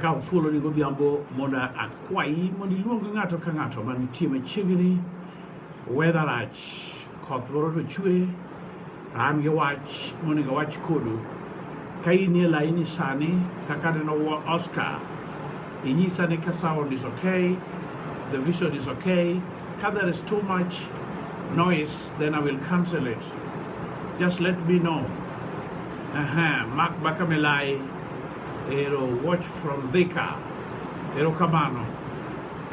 akawo thuolo ni godhiambo mondo akwayi mondo iluong ng'ato ka ng'ato manitie machiegni wedharach koth loro to chwe an gi wach monego wach kodu ka in e laini sani kaka neno oscar inyisa ni ka sound is okay the vision is okay ka there is too much noise then i will cancel it just let me know aha mak bakamelai ero watch from dhika erokamano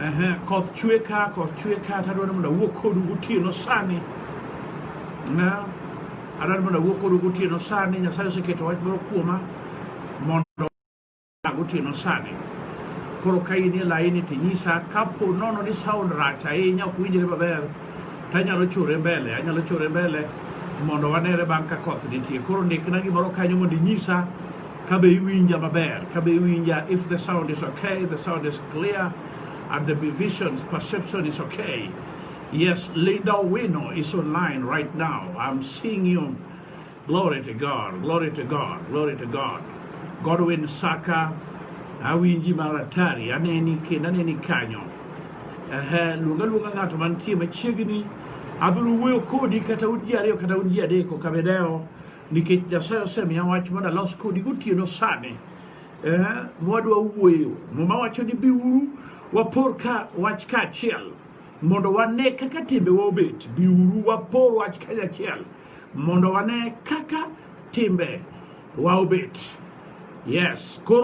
Ehe, koth chwe ka, koth chwe ka, tadwa ni mondo awuo kodu gotieno sani. Na, adwa ni mondo awuo kodu gotieno sani, Nyasaye oseketo wach moro kuoma mondo gotieno sani. Koro ka in e laini to inyisa kapo nono ni sound rach ahinya ok winjre maber, to anyalo chore mbele, anyalo chore mbele mondo wanere bang' ka koth nitie. Koro ndikna gimoro kanyo mondo inyisa Ka be iwinja maber? Ka be iwinja? If the sound is okay, the sound is clear, and the vision's perception is okay. Yes, Linda Wino is online right now. I'm seeing you. Glory to God, glory to God, glory to God. Godwin Saka, awinji maratari, aneni kendo aneni kanyo. Ehe, luonga luonga ng'ato mantie machiegni, abiro wuoyo kodi kata un ji ariyo kata un ji adeko, kabedeo nikech Nyasaye osemiya wach mondo alos kodi gotieno sani eh, mwadwa wuoyo. Muma wacho ni biuru wapor ka wach kaachiel mondo wane kaka timbewa obet. Biuru wapor wach kanyachiel mondo wane kaka timbe wa obet. Yes. Koro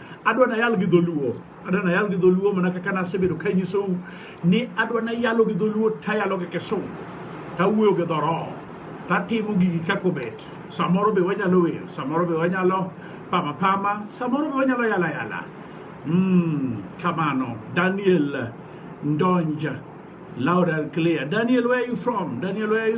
adwa nayal gi dholuo adwa nayal gi dholuo mana kaka nasebedo ka nyisou ni adwa nayalo gi dholuo tayalo gi kisungu tawuoyo gi dhoroho tatimo gigi kaka obet samoro be wanyalo wer samoro be wanyalo pama pama samoro be wanyalo yala yala mm, kamano daniel ndonja loud and clear daniel where are you from daniel where are you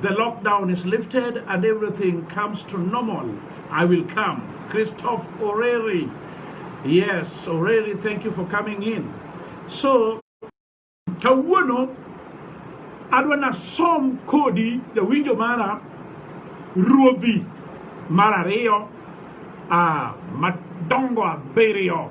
The lockdown is lifted and everything comes to normal. I will come. Christoph Oreri. Yes, Oreri, thank you for coming in. So, kawuono adwa nasom kodi jawinjo mara ruodhi mar ariyo ah, madongo abiriyo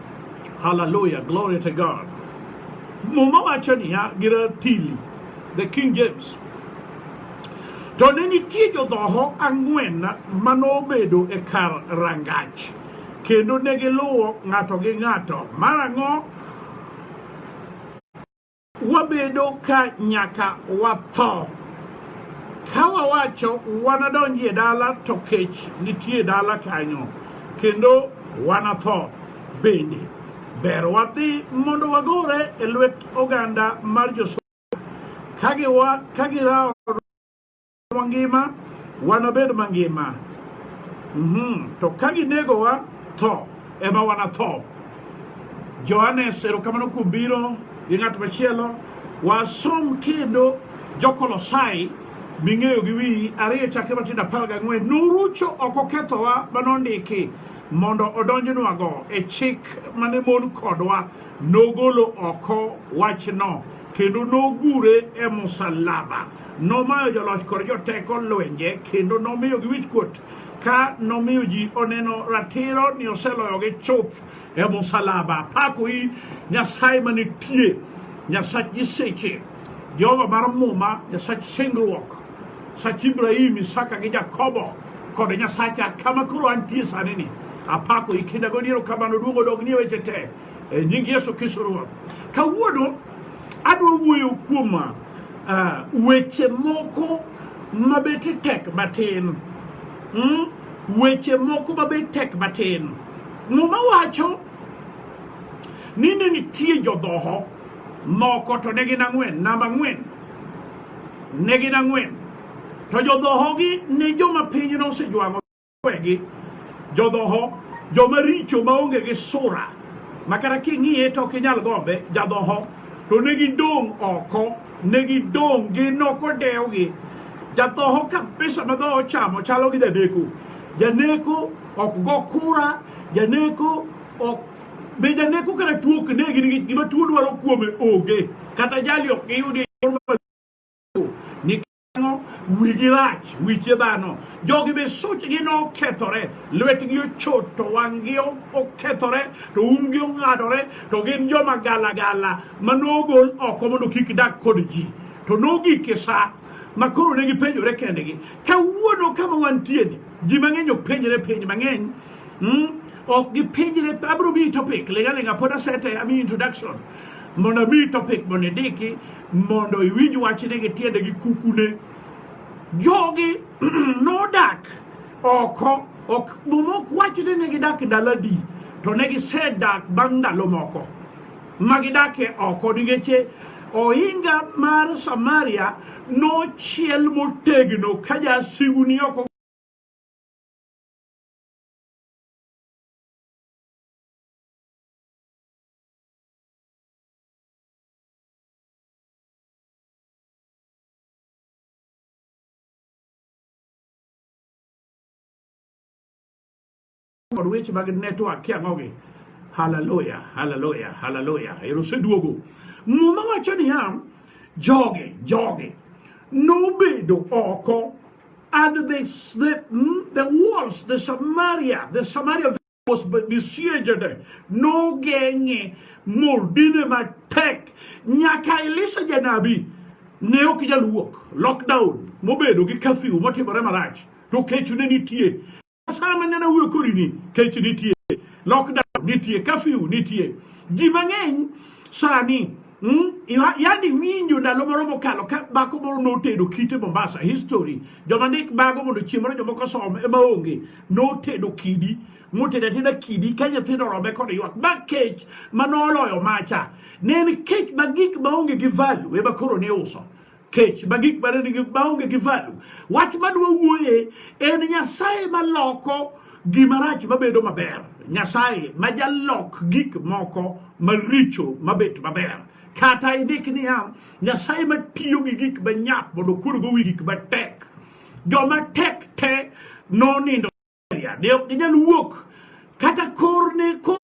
Hallelujah. Glory to God. Muma wacho niya gi ratili, the King James. To ne nitie jodhoho ang'wen ma nobedo e kar rangach, kendo ne giluwo ng'ato gi ng'ato. Marang'o Wabedo ka nyaka watho. Ka wawacho wanadonji e dala to kech nitie e dala kanyo kendo wanatho bende. Ber wadhi mondo wagore e lwet oganda mar Josungu ka girawo mangima wanabed mangima mm -hmm. to ka ginegowa tho ema wanatho Johannes erokamano kuom biro gi ng'at machielo wasom kendo jokolosai ming'eyo gi wiyi ariyo chakre matindo apar gang'wen norucho ok okethowa ma nondiki mondo odonjnwago e chik mane mon kodwa nogolo oko wachno kendo nogure e musalaba Nomayo joloch kod joteko lwenje kendo nomiyogi wichkuot ka nomiyo ji oneno ratiro ni oseloyogi chuth e musalaba. Pakoi Nyasaye manitie, Nyasach nyiseche, Jehova mar Muma, Nyasach singruok, Nyasach Ibrahim, Isaka gi Jakobo kod Nyasacha kama koro antie sani ni. Apakoi kinda godiero kamano duogo dog nie weche te. E nying Yesu Kristo Ruoth. Kawuono adwa wuoyo kuom uh, weche moko mabete tek matin. Mm? Weche moko mabete tek matin. Muma wacho ni ne nitie jodhoho moko to ne gin ang'wen, namba ang'wen. Ne gin ang'wen. To jodhohogi ne joma pinyno osejwang'o. kwegi jodhoho joma richo maonge gi sura ma kata king'iye to ok inyal gombe jadhoho to ne gidong' oko ne gidong' gi noko dewgi jadhoho kabisa ma dhoho chamo chalo gi janeko janeko ok go kura janeko ok be janeko kata tuo ok negi nikech gima tuo dwaro kuome onge kata jali ok giyudi wigi rach wiche dhano jogi be suchgi nokethore lwetgi ochot to wang'gi okethore to umgi ong'adore to gin joma galagala ma nogol oko mondo kik dak kod ji to nogik e sa ma koro ne gipenjore kendgi kawuono kama wantieni ji mang'eny ok penjre penj mang'eny hmm? ok gipenjre abiro miyi topic lengalenga pod asete ami introduction mondo mi topic mondo idiki mondo iwinj wachne gi tiende gi kukune jogi nodak oko ok momok wachne ne gidak ndalo adi to ne gisedak bang' ndalo moko ma gidakie oko nikech ohinga mar samaria nochiel motegno ka jasigu ni oko kod weche mag network kiang'ogi haleluya haleluya haleluya ero oseduogo muma wacho niya jogi jogi nobedo oko and they, the, the walls the samaria the samaria nisie jade nogeng'e modine matek nyaka Elisha janabi ne ok jaluok lockdown mobedo gi curfew motimore marach to kech ne nitie sama ne nawuoyo korini kech nitie lockdown nitie curfew nitie ji mang'eny sani Mm? Yandi winjo ndalo moro mokalo ka bako moro notedo kite Mombasa history joma ndik bago mondo chieng' moro jomoko som ema onge notedo kidi motedo ateda kidi ka nyithindo orome kod ywak ma kech ma noloyo macha ne en kech ma gik ma onge gi value ema koro ne uso kech ma gik mane nigi maonge gi valu. Wach madwa wuoye en Nyasaye maloko gima rach mabedo maber. Nyasaye ma jalok gik moko maricho mabet maber. Kata indik niya, Nyasaye matiyo gi gik manyap mondo okurgo wi gik matek. Joma tek te nonindo ne ok ginyal wuok kata kor ne kor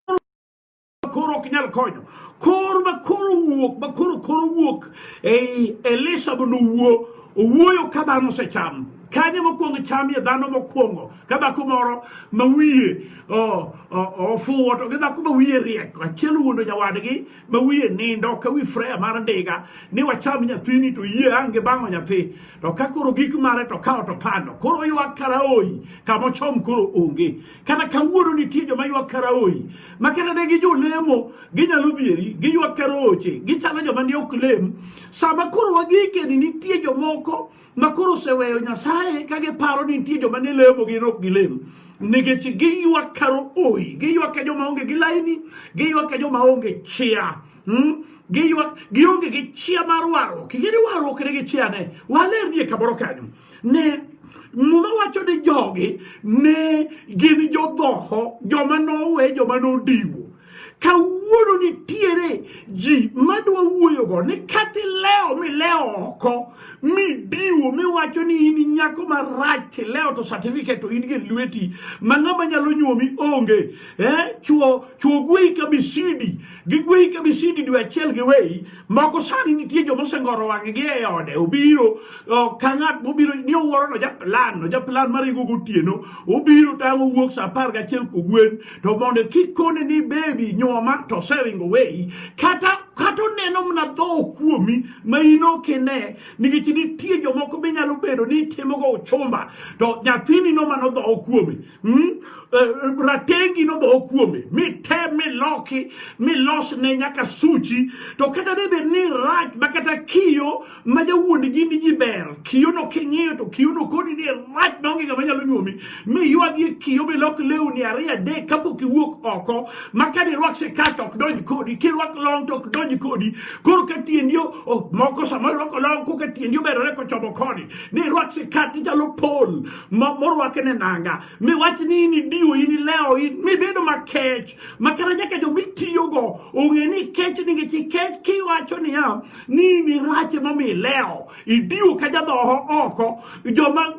koro ok nyal konyo kor ma koro wuok ma koro koro wuok ei Elisha mondo owuo owuoyo ka dhano osecham kanye mokwongo chamie dhano mokwongo ka dhako moro ma wiye ofuwo to gi dhako ma wiye riek achiel wuondo nyawadgi ma wiye nindo ka wi freya mar ndiga ni wacham nyathini to yie ange bang'o nyathi to ka koro gik mare to kawo to pando koro ywak karaoyi kamochom koro onge Kata kawuono nitie joma ywak karaoyi ma kata ne gi jolemo ginyalo dhieri giywak karaoche gichalo joma ne ok lem. Sama koro wagikeni nitie jomoko ma koro oseweyo Nyasaye ka giparo ni nitie joma ne lemo gin ok gilem nikech giywak karaoyi giywak ka joma onge gi laini giywak ka joma onge chia hmm? giywak gionge gi chia mar warruok ing'e ni warruok ne gi chia ne walernie kamoro kanyo ne Muma wacho ni jogi ne gin jodhoho joma nowe joma nodiwo kawuono nitiere ji madwa wuoyogo ni kata ilewo milewo oko midiwo miwacho ni in nyako marach tilewo to certificate to in gi lweti ma ng'ama nyalo nyuomi onge eh? chuo chuo gweyi kabisidi gigweyi ka misidi dwe achiel giweyi moko sani nitie joma osengoro wang'gi e ode obiro ka ng'at mobiro ni owuoro no japlan no japlan mar igo gotieno obiro tang' owuok sa apar gachiel kogwen to mondo kik kone ni bebi nyuoma to oseringo weyi kata kata oneno mna dho kuomi ma in ok ine nikech nitie jomoko be nyalo bedo ni itimogo uchumba to nyathini no mano dho kuomi Mm? Uh, ratengi nodho kuome mite miloki milos ne nyaka suchi to kata ne bed ni rach ma kata kiyo ma jawuond ji ni ji ber kiyo no king'iyo to kiyo no koni ni rach maonge ngama nyalo nyuomi miywagie kiyo milok lewni ariyo adek kapok iwuok oko ma ka dirwak sikat ok donj kodi kirwak long to ok donj kodi koro ka tiendi moko sama irwako long koka tiendi oberore kochomo koni ni irwak sikat ichalo pol morwake ne nanga miwach ni in idiwo in ilewo mibedo makech makara nyaka jo mitiyogo ong'e ni kech nikech ikech kiwacho niya ni in irach emomiyo ilewo idiwo ka jadhoho oko joma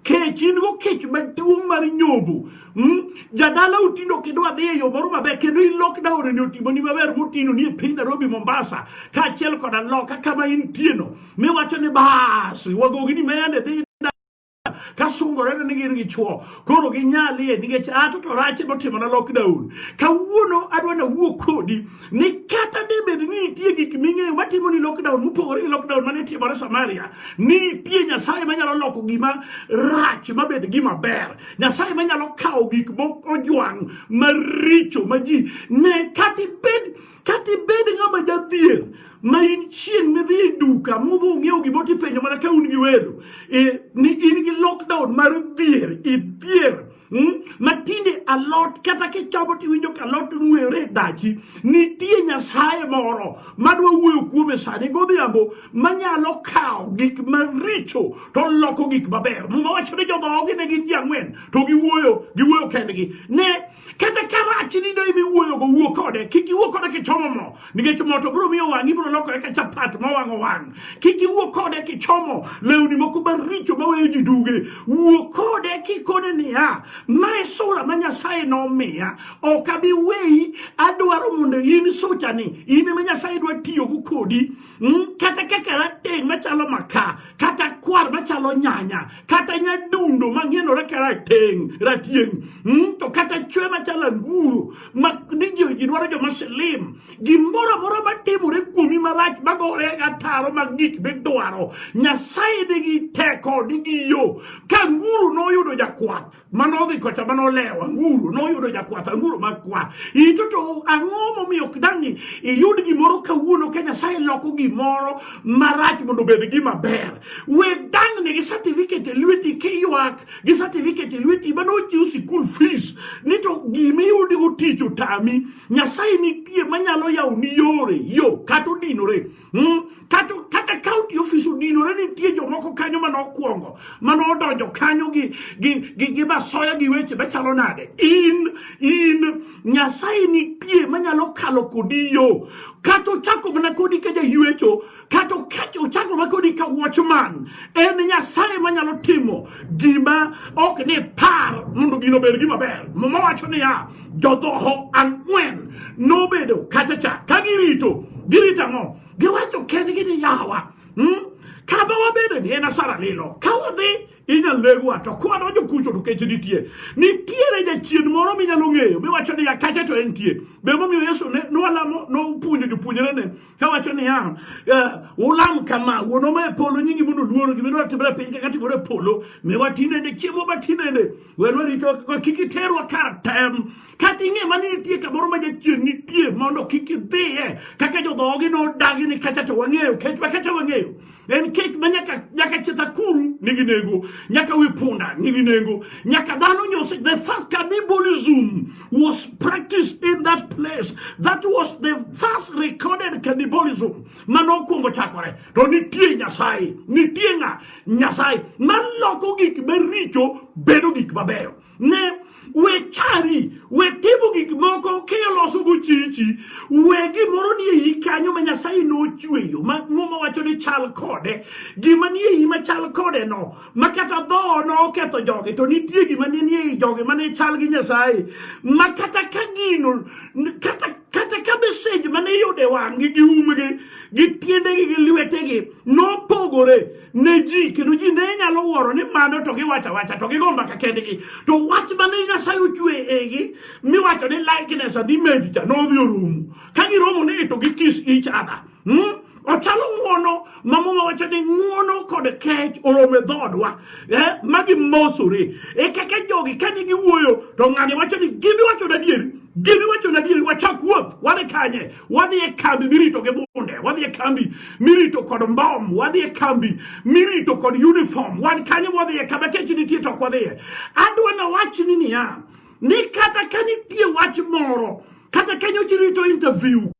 kech in go kech maduong' mar nyombo hmm? jadala otindo kendo adhi e yo moro maber kendo i lockdown ni otimoni maber motino ni e piny Nairobi Mombasa kaachiel koda loka kama intieno miwacho ni bas wagogi ni mende dhi kasungore ni gin gi chwo koro ginyalie nikech ato to rach motimo na lockdown kawuono adwa na wuo kodi ni kata debed ni nitie gik ming'eyo matimo ni lockdown mopogore gi lockdown mane timore Samaria ni nitie Nyasaye manyalo loko gima rach mabed gima ber Nyasaye manyalo kawo gik mojwang' maricho ma ji ne kata ibed Kata ibed ng'ama jadhier ma in chieng' midhi e duka mudhi ung'iewo gimoro tipenjo mana ka un gi welo e, ni in gi lockdown mar dhier idhier hmm? matinde alot kata kichamo tiwinjo ka alot ng'were e dachi nitie nyasaye moro madwa wuoyo kuome sani godhiambo manyalo kawo gik maricho to loko gik maber muma wacho ni jodhoogi ne gin ji ang'wen to giwuoyo giwuoyo kendgi ne kata ka rachni do imiwuoyogo wuo kode kik iwuo kode kichomo mo nikech mo to biro miyo wang'i biro lokore ka chapat mowang'o wang' kik iwuo kode kichomo lewni moko maricho maweyo ji duge wuo kode kikone niya mae sura ma nyasaye nomiya ok abi weyi adwaro mondo in suchani in ema nyasaye dwa tiyogo kodi Mm, kata kaka rateng' machalo maka kata kwar machalo nyanya kata nyadundo mang'enore ka rateng' ratieng' mm, to kata chwe machalo anguro ma ni ji dwaro joma silim gimoro amora matimore kuomi marach magore ataro mag gik midwaro nyasaye nigi teko nigi yo ka anguro noyudo jakwath mane odhi kocha mane olewo anguro noyudo jakwath anguro makwa ito to ang'o momiyo ok dang' iyud gimoro kawuono ka nyasaye loko gimoro marach mondo obed gima ber we dang'ni gi certificate e lweti kiywak gi certificate e lweti mane ochiw sikul fees ni to gimiyudigo tich otami nyasaye nitie manyalo yawoni yore yo kata odinore Hmm? Kata, kata kaunti ofis odinore nitie jomoko kanyo mane okwongo mane odonjo kanyo gi, gi, gi, gi masoya gi weche machalo nade in in nyasaye nitie manyalo kalo kodi yo kata ochako mana kodi ka jaywecho kata ochako mana kodi ka watchman en nyasaye manyalo timo gima ok ni par mondo gino bed gima ber mama wacho niya jodhoho ang'wen nobedo kacha cha ka girito girito ang'o giwacho kendgi ni yawa hmm? kama wabedo ni en asara lilo ka wadhi inyalo legwa to kwadonjo kucho to kech nitie nitiere jachien moro minyalo ng'eyo miwacho ni akache to entie be momiyo yesu ne nwalamo nopuonjo jopuonjrene kawacho niya eh, ulam kama wuonwa ma e polo nyingi mondo luoro gimidwaro timre e piny kaka timore e polo miwa tinende chiemo ba tinende Wen warito kik iterwa kar tem kata ing'e ma ni nitie kamoro ma jachien nitie mondo kik idhiye kaka jodhoogi nodagi ni kacha to wang'eyo kech ma kacha wang'eyo en kech ma nyaka nyaka cheth akuru nigi nengo nyaka wi punda nigi nengo nyaka dhano nyose the first cannibalism was practiced in that place that was the first recorded cannibalism mane okwongo chakore to nitie nyasaye nitie ng'a nyasaye maloko gik maricho bedo gik mabeyo ne we chari we timo gik moko kiloso go chichi we gimoro nie iyi kanyo ma nyasaye nochweyo ma muma wacho ni chal kode gima nie iyi ma chal kode no ma kata dho ne oketho jogi to nitie gima ne nie i jogi mane chal gi nyasaye ma kata ka gino kata kata ka mesej mane iyudo e wang'gi gi umgi gi tiendegi gi lwetegi nopogore ne ji kendo ji ne nyalo wuoro ni mano to giwacho awacha to gigo mbaka kendgi to wach mane nyasaye ochwe egi miwacho ni likeness and image cha nodhi orumo ka giromo ni to gikis each other Hmm? Ochalo ng'uono ma muma wacho ni ng'uono kod kech oromo e dhoodwa eh? ma gimosore e kaka jogi kane giwuoyo to ng'ani wacho ni gimi wacho adieri gimi wacho adieri wachak wuoth wadhi kanye wadhi e kambi mirito gi bunde wadhi e kambi mirito kod mbom wadhi e kambi mirito kod uniform wan kanye wadhi e kama kech nitie to ok wadhiye adwa na wach ni niya ni kata ka nitie wach moro kata ka nyochi rito interview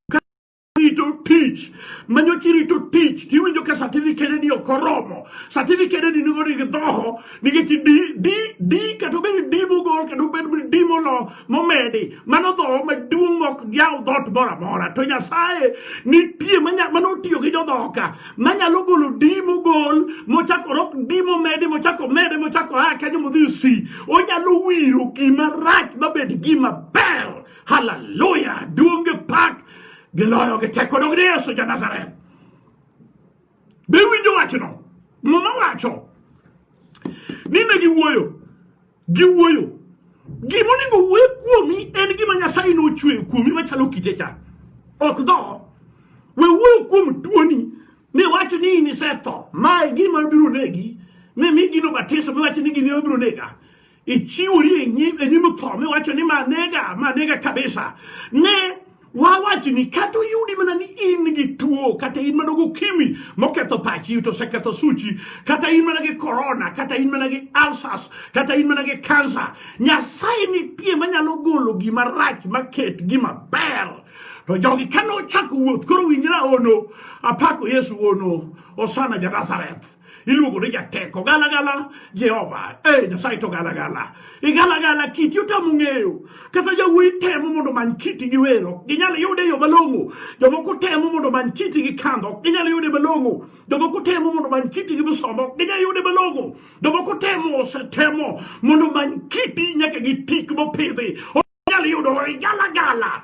rito tich manyo chi rito tich tiwinjo ka certificate ni ok oromo certificate ni nigo ni dhoho nikech di di di kata obed di mogol kata obed di molo momedi mano dhoho maduong' ok yaw dhoot moro amora to nyasaye nitie mano otiyo gi jodhoho ka manyalo golo di mogol mochako rok di momedi mochako mede mochako a kanyo modhi si onyalo wiro gima rach mabed gima ber Haleluya! Duonge pak giloyo gi teko dog ni Yesu ja Nazareth. Be winjo wachno? Muma wacho ni ne giwuoyo giwuoyo gima onego wuo kuomi en gima Nyasaye nochweyo kuomi machalo kite cha ok dho we wuoyo kuom tuoni ne wacho ni in isetho mae gima biro negi ne mi gino batiso miwacho ni gini obiro nega ichiwori e nyim e nyim tho miwacho ni manega manega kabisa ne wawacho ni kata oyudi mana ni in gi tuo kata in mana gokimi moketho pachi to oseketho suchi kata in mana gi korona kata in mana gi alsas kata in mana gi kansa nyasaye nitie manyalo golo gima rach maket gima ber to jogi kane ochako wuoth koro winjra ono apako yesu ono osana ja nazareth iluongo ni jateko galagala jehova e nyasaye to galagala igalagala kiti otamo ng'eyo kata jawuoyi temo mondo many kiti gi wer ok ginyal yude yo malong'o jomoko temo mondo many kiti gi kandho ok ginyal yude malong'o jomoko temo mondo many kiti gi musoma ok ginyal yude malong'o jomoko temo osetemo mondo many kiti nyaka gi tik mopidhi ok ginyal yudo igalagala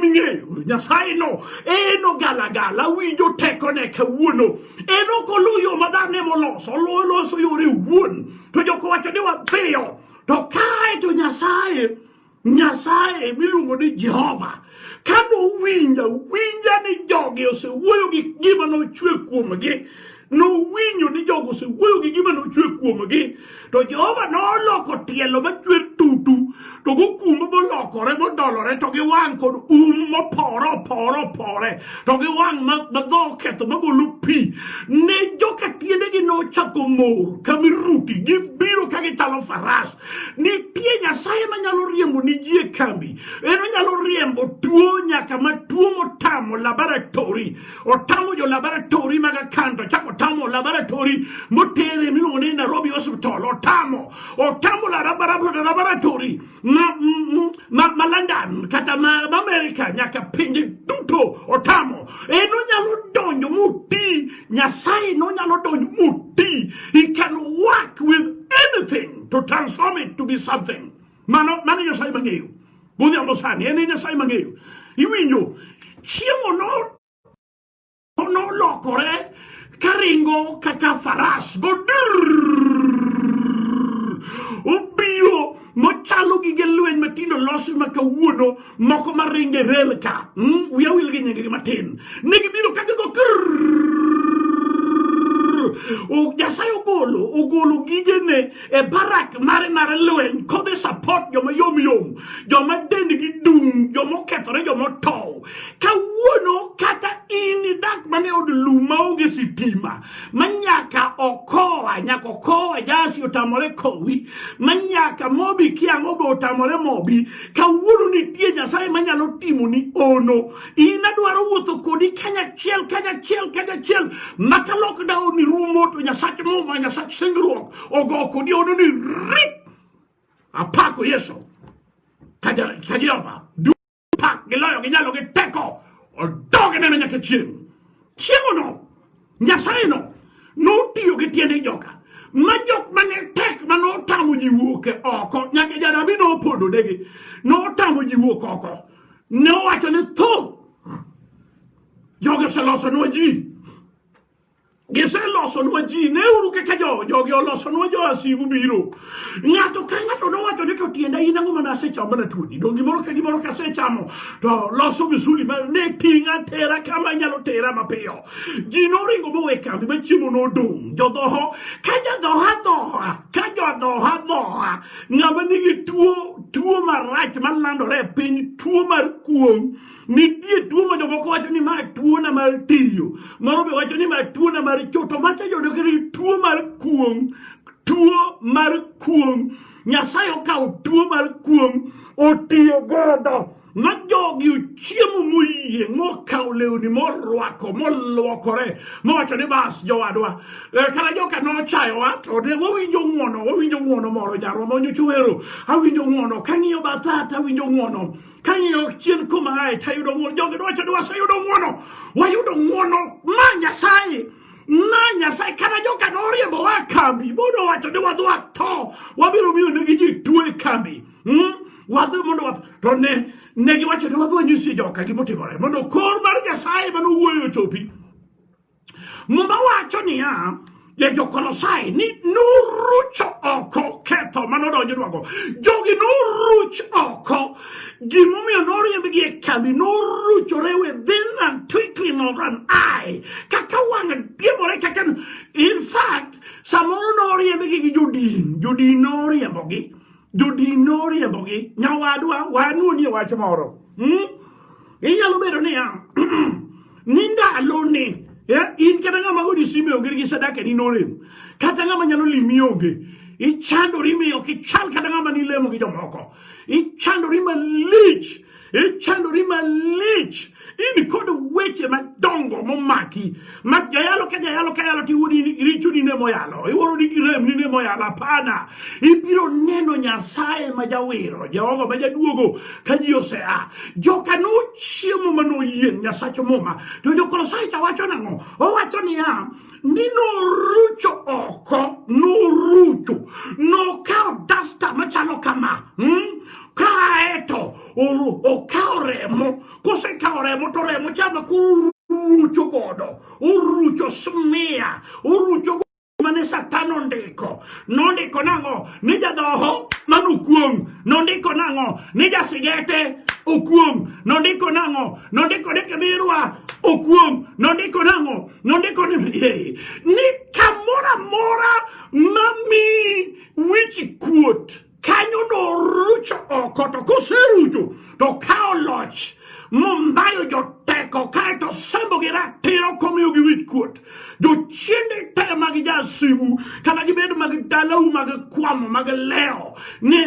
ming'eyo nyasaye no en ogalagala winjo tekone kawuono en ok oluw yo ma dhano emoloso oloso yore wuon to joko wacho ni wapiyo to kae to nyasaye nyasaye miluongo ni jehova ka nowinja winja ni jogi osewuoyo gi gima nochwe kuomgi nowinjo ni jogo osewuoyo gi gima nochwe kuomgi to jehova noloko tielo machwer tutu to gokumbo molokore modolore to gi wang' kod um mopore opore opore to gi wang' madho oketho magolo pi ne joka tiendegi nochako mor ka miruti gibiro ka gichalo faras nitie nyasaye manyalo riembo ni ji e kambi en onyalo riembo tuo nyaka ma tuo motamo laboratori otamo jo laboratori mag akanta chako otamo laboratori motere miluongo ni Nairobi Hospital otamo otamo laboratori ma, ma, ma London kata ma, ma Amerika nyaka pinje duto otamo en onyalo donjo muti Nyasaye nonyalo donjo muti he can work with anything to transform it to be something Mano mano Nyasaye mang'eyo. Godhiambo sani en Nyasaye mang'eyo. Iwinjo chiemo no nolokore karingo kaka faras go obiyo mochalo gige lweny matindo losi ma kawuono moko ma ringe rel ka hmm? wiya wil gi nyingegi matin ne gibiro ka gigo nyasaye ogolo ogolo gigene e barak mare mar lweny kodhi support joma yomyom joma dendgi dung joma okethore joma otow kawuono kata in idak mana e od lum maonge sitima ma nyaka okoa nyaka okoa jasi otamore kowi ma nyaka mobi kiang'o be otamore mobi kawuono nitie nyasaye manyalo timoni ono in adwaro wuotho kodi kanyachiel kanyachiel kanyachiel maka lockdown rumo to nyasach muma nyasach singruok ogo kodi ono ni rip apako yesu ka jehova dupak giloyo ginyalo gi teko odogne ne nyaka chieng' chieng'ono Nyasayeno notiyo gi tiende joka ma jok mane tek ma notamo ji wuok e oko nyaka janabi nopodonegi notamo ji wuok oko ne owacho ni tho jogi oselosonwa ji giselosonwa ji neuru kaka jogi olosonwa jo asigu biro ng'ato ka ng'ato nowacho ni to tienda in ang'o mana asechamo mana tuoni dong gimoro ka gimoro kasechamo to loso misuli ma ne ting'a tera kama nyalo tera mapiyo ji noringo mowe kambi ma chiemo nodong' jodhoho ka jadhoha dhoha ka jodhoha dhoha ng'ama nigi tuo tuo marach malandore e piny tuo mar kuong' nitie tuo ma jomoko wacho ni ma tuona mar tiyo moro be wacho ni ma tuona mar choto macha jodo kere tuo mar kuong' tuo mar kuong' nyasaye okawo tuo mar kuong' otiyo godo ma jogi ochiemo moyie mokawo lewni morwako molwokore mowacho ni bas jowadwa eh, kata joka nochayowa to ne wawinjo ng'wono wawinjo ng'wono moro nyarwa monyocha wero awinjo ng'wono kang'iyo bathat awinjo ng'wono kang'iyo chien kuma ae tayudo ng'wono jogi nowacho ni waseyudo ng'wono wayudo ng'wono ma nyasaye ma nyasaye kata joka noriembowa kambi modo wacho ni wadhi watho wabiro miyo negi ji tuo e kambi hmm? wadhi mondo wath to ne ne giwacho ne wadhi wanyisi joka gimotimore mondo kor mar nyasaye mane owuoyo ochopi muma wacho niya ya jokolosai ni nuruch oko ketho mane odonjnwago jogi nuruch oko gimomiyo noriembgi e kambi noruchore within and twinkling of an eye kaka wang' diemore kaka in fact samoro noriembgi gi jodin jodin noriembogi jodin noriembogi nyawadwa wanuonie wach moro hmm? inyalo bedo niya ni ndaloni eh, in kata ng'ama godi simbe onge gi sadaka ni norem kata ng'ama nyalo limi onge ichandori miyo kichal kata ng'ama nilemo gi jomoko ichandori malich Ichandori e malich in kod weche madongo momaki ma jayalo ka jayalo ka yalo tiwuodi richoni ne moyalo iworoni gi remni ne moyalo hapana ibiro neno nyasaye ma jawiro jehova ma jaduogo ka ji osea joka nochiemo ma noyieng' nyasach muma to jokolosae cha wacho nang'o owacho niya ni norucho oko, norucho, nokawo dasta machalo kama hmm? kaeto okawo remo, kosekawo remo to remo chama kurucho godo, urucho smiya, urucho mane Satan ondiko. Nondiko nang'o? Ni jadhoho mano okuong'. Nondiko nang'o? Ni jasigete okuong'. Nondiko nang'o? Nondiko ni kibirwa okuong'. Nondiko nang'o? Nondiko ni ni kamoro amora mami wichi kuot kanyo norucho oko to koserucho to kawo loch mombayo joteko kaeto sembogi ratiro komiyogi wich kuot jochiende te mag jasigu kata gibed mag dalau mag kwamo mag leo ni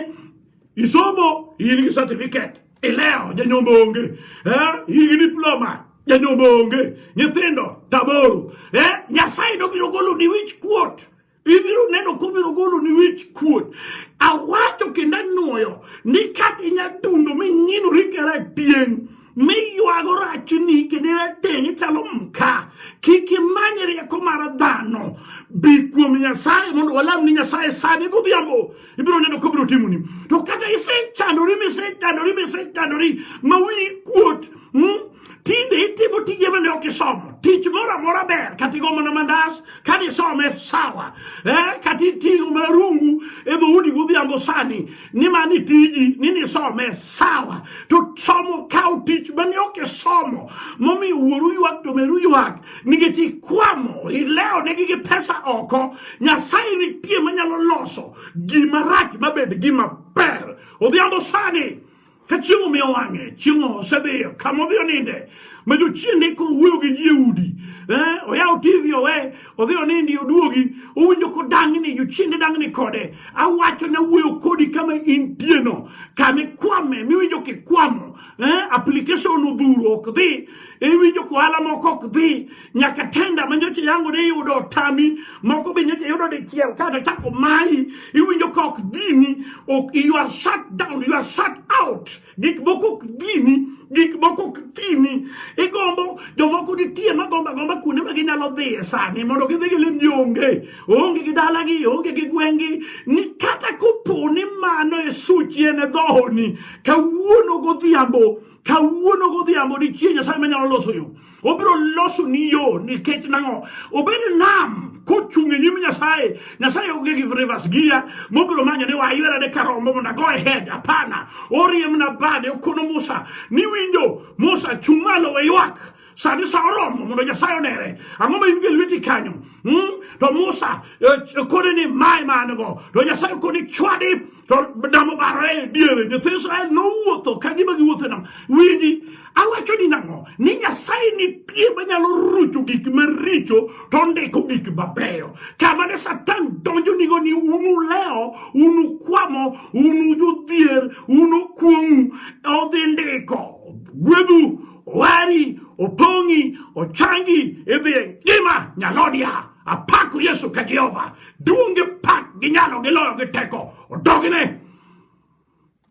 isomo in gi certificate Ileo janyombo onge eh? Higi diploma janyombo onge nyithindo taboro eh? Nyasaye nobiro golo ni wich kuot ibiro neno kobiro golo ni wich kuot awacho kendo anwoyo ni kata inya dundo ming'inori kera tieng' miywago rachni kendo rateng' ichalo mka kik imany rieko mar dhano bi kuom nyasaye mondo walam ni nyasaye sani godhiambo ibiro neno kobiro timoni to kata isechandori misechandori misechandori ma wiyi kuot hmm? tinde itimo tije mane ok isomo tich moro amora ber kata igo mana mandas kata isome sawa eh, kata iting'o mana rungu e dhoudi godhiambo sani ni mani tiji ni nisome sawa to somo kawo tich mane ok isomo momiyo wuoru ywak to meru ywak nikech ikwamo ileo ne gi pesa oko nyasaye nitie manyalo loso gima rach mabed gima ber odhiambo sani ka chieng' omiyo wang'e chieng' osedhiyo kama odhi oninde ma jochieng' ne koro wuoyo gi ji e udi eh, oyawo tv owe odhi onindi oduogi owinjo kodang'ni jochieng' ne dang'ni kode awacho ne wuoyo kodi kama intieno kama ikwame miwinjo kikwamo eh, application odhuro ok dhi, iwinjo ka ohala moko ok dhi, nyaka tenda ma nyocha yango ne iyudo otami, moko be nyocha iyudo dichiel kata chako mayi, iwinjo ka ok dhini, ok, you are shut down, you are shut out, gik moko ok dhini gik moko ok dhini, igombo jomoko nitie magomba gomba kuonde ma ginyalo dhiye sani mondo gidhi gilim ni onge onge gi dalagi onge gi gweng'gi ni kata kopo ni mano e suchi en e dhohoni kawuono godhiambo kawuono godhiambo nitie nyasaye manyalo loso yo obiro loso ni yo nikech nang'o obed nam kochung' e nyim nyasaye nyasaye onge gi rivers gia mobiro manyo ni waywera de karombo mondo ago ahead hapana oriemna bade okono musa niwinjo musa chung' malo we ywak sani sa oromo mondo nyasaye onere ang'o ma in gi lweti kanyo hmm? to musa eh, kodi ni mae man go to nyasaye kodi chwadi to damo barore diere nyithi israel nowuotho ka gima giwuotho nam winji awacho ni nang'o ni nyasaye nitie manyalo rucho gik maricho to ndiko gik mabeyo kama ne satan donjo nigo ni unu leo unu kwamo unu jodhier unu kuong'u odhi ndiko gwedhu Owari, Opong'i, Ochangi idhi e ngima nyalodia. Apako Yesu ka Jehova. Duonge pak gi nyalo gi loyo gi teko. Odogne.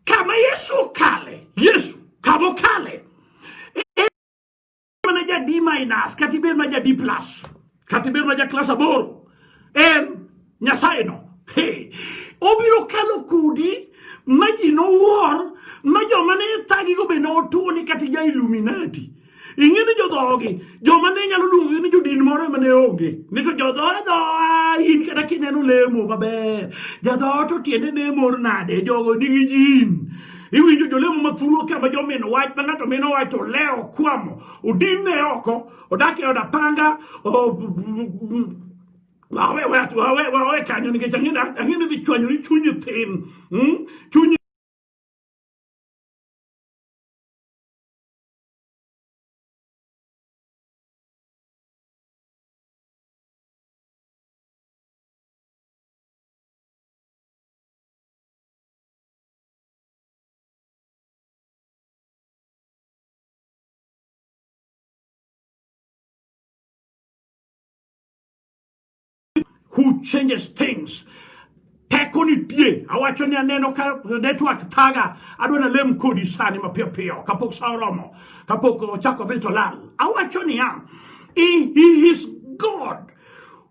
Kama Yesu okale, Yesu kama okale. E, e, mana jadi minus, kata ibed ma jadi plus. kata ibed ma ja klas aboro en nyasaye no hey. obiro kalo kudi ma ji nowuor ma joma ne thagigo be notuo ni kata ja illuminati ing'e ni jodhogi joma ne nyalo luongogi ni jodin moro ema ne onge ni to jodhoe dhoa in kata kineno lemo maber jadhoot to tiende ne mor nade jogo nigi jin iwinjo jolemo mathuru kama jomino wach ma ng'ato mino wach to lewo kwamo odinne oko odake oda panga wawe watu wawe wawe kanyo nikech ang'e ang'e ni dhi chwanyori chunyi thin hmm? chunyi who changes things teko nitie awacho ni aneno ka network thaga adwa nalem kodi sani mapiyo piyo kapok sa oromo kapok ochako dhi to lal awacho niya he, he is god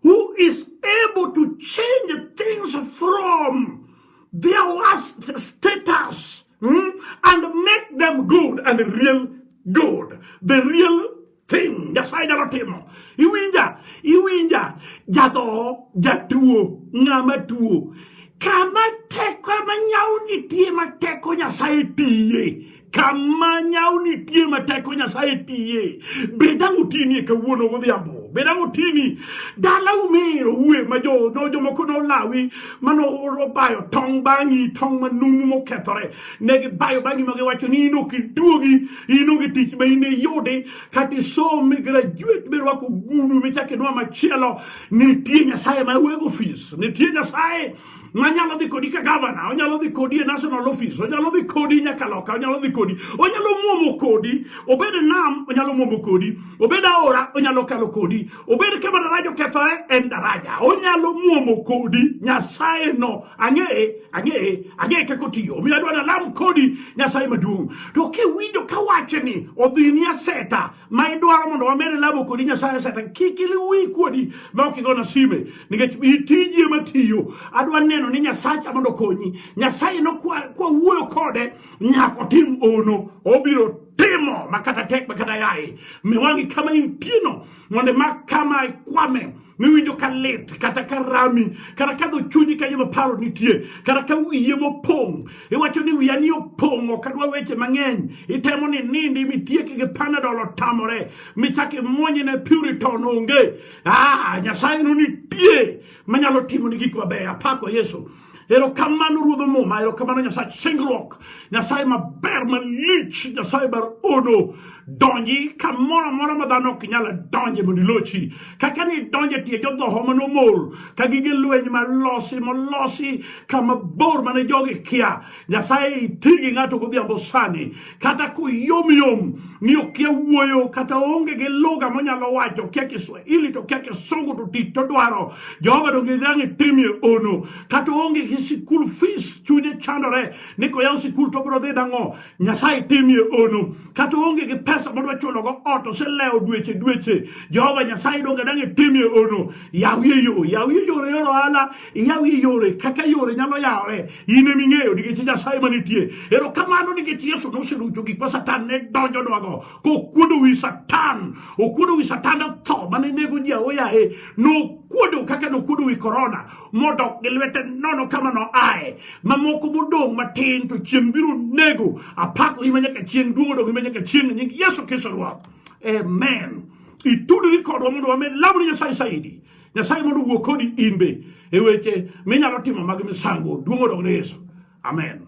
who is able to change things from their worst status hmm, and make them good and real good the real thing nyasaye nyalo timo iwinja iwinja jadho jatuo ng'ama tuo kama teko ema nyawo nitie ma teko nyasaye tiye kama nyau nitie ma teko nyasaye tiye bed ang' otinie kawuono godhiambo bed ang' otini dalau mir owue ma jo no jomoko nolawi mane obayo tong' bang'i tong' manumu mokethore ne gibayo bang'i ma giwacho ni in ok iduogi in onge tich ma in iyudi kata isom migrajuet mirwako gudu michako idwa machielo nitie nyasaye ma wego ofis nitie nyasaye manyalo dhi kodi ka gavana onyalo dhi kodi e national office onyalo dhi kodi nyaka loka onyalo dhi kodi onyalo mwomo kodi obed nam onyalo mwomo kodi obed aora onyalo kalo kodi obed kama daraja okethore en daraja onyalo mwomo kodi nyasaye no ang'eye ang'eye ang'eye kaka otiyo omiyo adwa nalam kodi nyasaye maduong' to kiwinjo kawache ni odhi ni aseta ma idwaro mondo wamed lamo kodi nyasaye satan kik iliwi kuodi ma ok igona sime nikech itiji ema tiyo adwa neno ni nyasacha mondo okonyi nyasaye no kwawuoyo kode nyaka otim ono obiro timo makata tek makata yaye miwangi kama intieno mondo ma kama ikwame miwinjo ka lit kata ka rami kata ka dho chunyi kanyo ma paro nitie kata ka wiye mopong' iwacho ni wiya ni opong' ok adwa weche mang'eny itemo ni nindi mitieki gi panadol otamore michak imwonye ne puriton onge ah, nyasaye no nitie manyalo timo ni gik mabeyo apako yesu Erokamano Ruodh Muma, erokamano Nyasaye singruok, Nyasaye maber malich, Nyasaye bar ono donji kamoro amora ma dhano ok nyal donje mondo ilochi kaka ni donje tie jodhoho manomol ka gige lweny malosi molosi kama bor mane jogi kia nyasaye itigi ng'ato godhiambo sani kata koyomyom ni okia wuoyo kata onge gi lugha monyalo wacho okia kiswahili to okia kisungu to tich to dwaro jehova donge dang' itimie ono kata onge gi sikul fees chunye chandore ni koyaw sikul to biro dhi dang'o nyasaye timie ono kata onge gi pesa modwa chulogo ot oselewo dweche dweche jehova nyasaye donge dang' itimie ono yawie yo yawie yore yor ohala iyawie yore kaka yore nyalo yawore in ema ing'eyo nikech nyasaye manitie erokamano nikech yesu noserucho gik ma satan ne donjonwago kokuodo wi satan okuodo wi satan otho mane nego ji aoyaye nokuodo kaka nokuodo wi korona modok gi lwete nono kama noaye mamoko modong' matin to chieng' biro nego apako ima nyaka chieng' duong' odong' ima nyaka chieng' nying yesu kristo ruoth amen itudri kodwa mondo wamed lamoni nyasaye saidi Nyasaye mondo owuo kodi in be e weche minyalo timo mag misango. Duong' odog ne Yesu. Amen.